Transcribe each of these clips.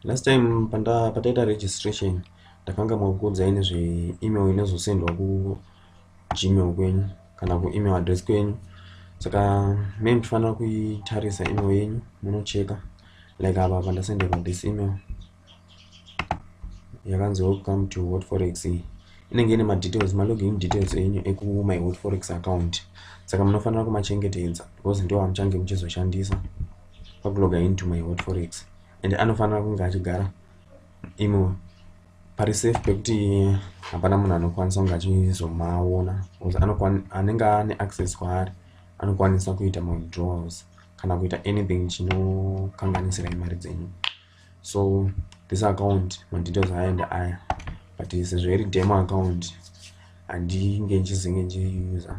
last time pataita registration ndakanga makuudzai nezve email inozosendwa kugmail kwenyu kana kuemail address kwenyu saka me ndifanira kuitarisa email yenyu munocheka like apa pandasenderwa this email yakanzi welcome to hot forex inenge ine madetails malogin details enyu ekumai hot forex account saka munofanira kumachengetedza because ndiwo amuchange muchizoshandisa vakuloga into my hot forex and anofanira kunge achigara imo pari safe pekuti hapana munhu anokwanisa kunge achizomaona bcause anenge ane access kwaari anokwanisa kuita mawithdrawals kana kuita anything chinokanganisira imari dzenyu so this account madetails aende aya but sezvo iri demo account handinge ndichizinge ndichiuser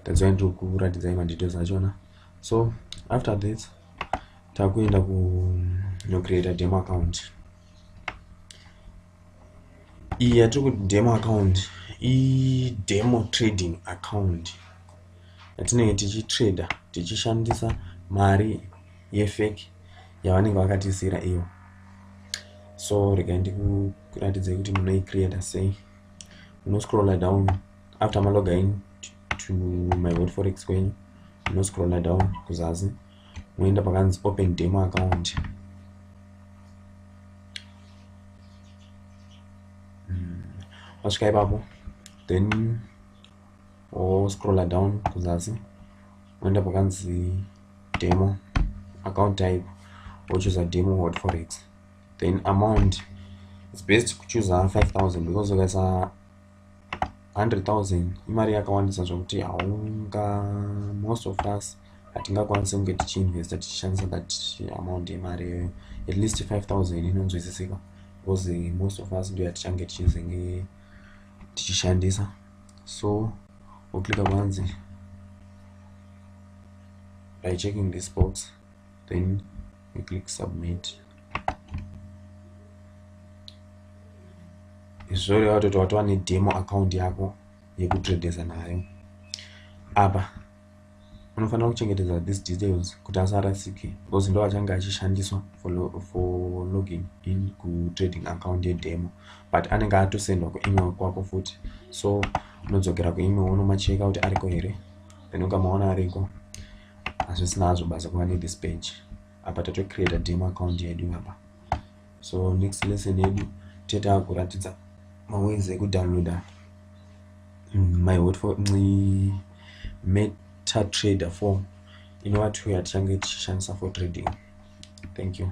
tadzai ndokuratidzai madetails achona so after this takuenda kunocreata demo account iyi yatiri kuti demo account idemo trading account yatinenge tichitrader tichishandisa mari yefake yavanenge vakatiisira iyo so regai ndikuratidzei kuti munoicreata sei unoscrolla down after maloga in to my word forex kwenyu munoscrolla down kuzasi moenda pakanzi open demo account wasvika hmm. ipapo then woscrolla down kuzasi moenda pakanzi demo account type wochuza demo word forex then amount is best kuchuza 5000 because ukaisa 100,000 imari yakawandisa zvokuti haunga most of us hatingakwanise kunge tichiinvesta tichishandisa that amount yemari iyoyo at least 5000 inonzwisisika because eh, most of us ndo yatichange tichizenge tichishandisa so woklika kwanzi by checking this box then we click submit izvozvo reva kuti watova nedemo account yako yekutradesa nayo apa unofanira kuchengetedza these details kuti asarasike because ndo achange achishandiswa for, lo for login in kutrading account yedemo but anenge atosendwa kuemail kwako futi so unodzokera kuemail unomacheka kuti ariko here then ukamaona ariko hazvisina hazvo basa kuva nethis page apa tatocreata demo account yedu apa so next lesson yedu tichataa kuratidza maways ekudownloada mm, my hot for mm, meta trader form inova two yatichange tichishandisa for trading thank you